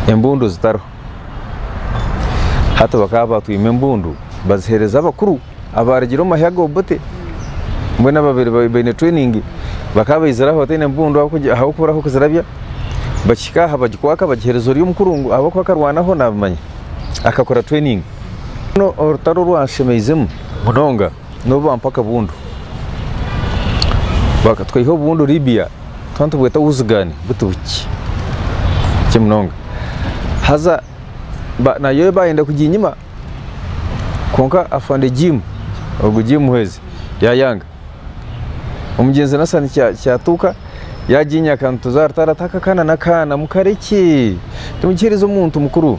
embundu zitariho. Hati bakaba batwima embundu bazihereza abakuru abarugire omu mahya ga Obote mbwenu ababire baine training bakaba baizire aho bataine embundu ahabw'okuba oriho kuzirabya bakihika aha bagikwaka bagihereza ori omukuru ngu ahabw'okuba akarwanaho nabimanya akakora training. Mbwenu orutaro orwanshemeizemu munonga. nobu bampa akabundu bakatwiha obundu Libya tuba nitubweta wuzigani buti bukye bukye munonga haza nayo bayenda kuginyima kwonka afande Jim ogu Jim Muhwezi yayanga omugyenzi Nassani Kyatuuka yaginyaka nituza aha rutare ati aka akaana nakaana mukarekye timukiherize omuntu mukuru.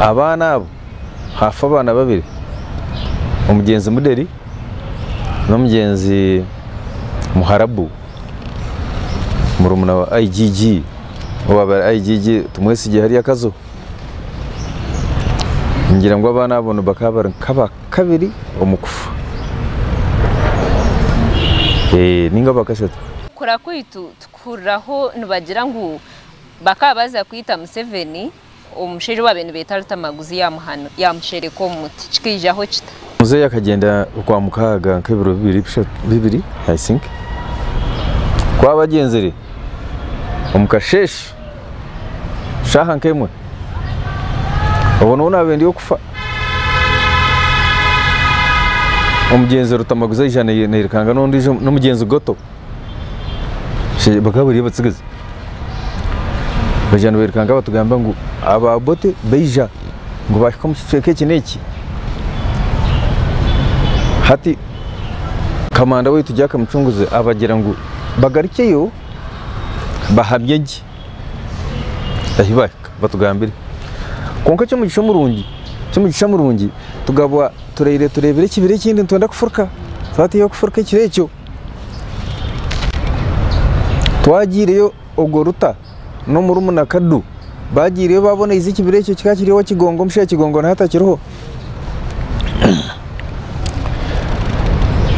abaana abo hafa abaana babiri omugyenzi muderi nomugyenzi muharabu murumuna wa IGG owabaire IGG tumwesigye hariya kazo ningira ngu abaana abo nibakaba bari nkabakabiri omukufa ninga abakashatu. Kukura kwaitu tukuhuriraho nibagira ngu Bakaba baza kwita Museveni omu mushaija owabire nibeta Rutamaguzi yamuhana yamushereka omu muti kikaijaho kita? Muzeeyi akagyenda okwa mukaaga nk'ebiro bibiri bishatu bibiri I think ku aba agyenzire omu kasheeshe shaaha nk'emwe obwo nooba naabaire ndi okufa omugyenzi Rutamaguzi aija nayerekanga n'ondiijo n'omugyenzi Goto. bakaba bari abatsigazi bagira nibiruka nibatugamba ngu aba Obote baija ngu bahika omu kicweka eki n'eki hati kamanda waitu Jack Mucunguzi abagira ngu bagarukyeyo bahamye gye ahu baahika batugambire kwonka eky'omugisha omurungi eky'omugisha omurungi tukaba turaire tureebire ekibira ekindi nitwenda kufuruka twateiha kufuruka ekiro ekyo Twagyireyo ogwo Ruta n'omurumuna Kadu bagyireyo babona eizi ekibira ekyo kikaba kiri owa Kigongo busha Kigongo niho atakiriho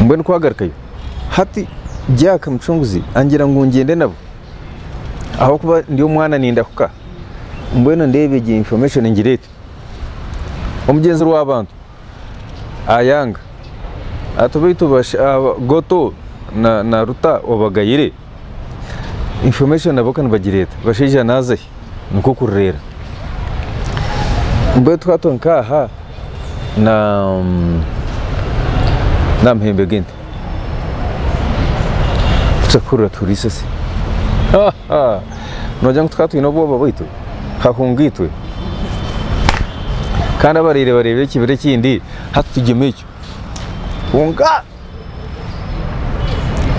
mbwenu kwagarukayo hati Jack Mucunguzi angira ngu ngyende nabo ahabw'okuba ndi omwana nindahuka mbwenu ndeeba egyo information ngirete omugyenzi rw'abantu. Ayanga, Ati baitu Goto na Ruta obagayire? Information nabo ka nibagireeta, bashaija naaza ahi nikwo kurireera. Mbwenu twatwo nk'aha na Namuhembe Gate. nogira ngu tukaba twine obwoba bwaitu hahunga itwe kandi abaraire bareeba ekibira ekindi hati tugyemu ekyo kwonka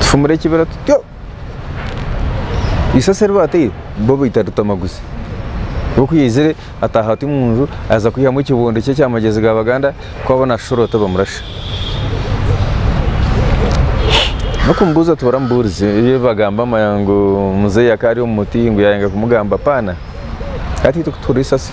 tufumure ekibira tutyo. Isasiro eri baateire bo baita ritamaguzi. Bo ku yaizire ataaha ati omu nju aza kwihamu ekibondo kye ekyamagyezi ga Baganda ku abona ashusha oti bamurasha. N'okumubuuza oti baramubuurize ebi bagamba ngu muzeeyi akaba ari omu muti ngu yaayanga kumugamba paana. Hati itwe ku tuhurira isasi.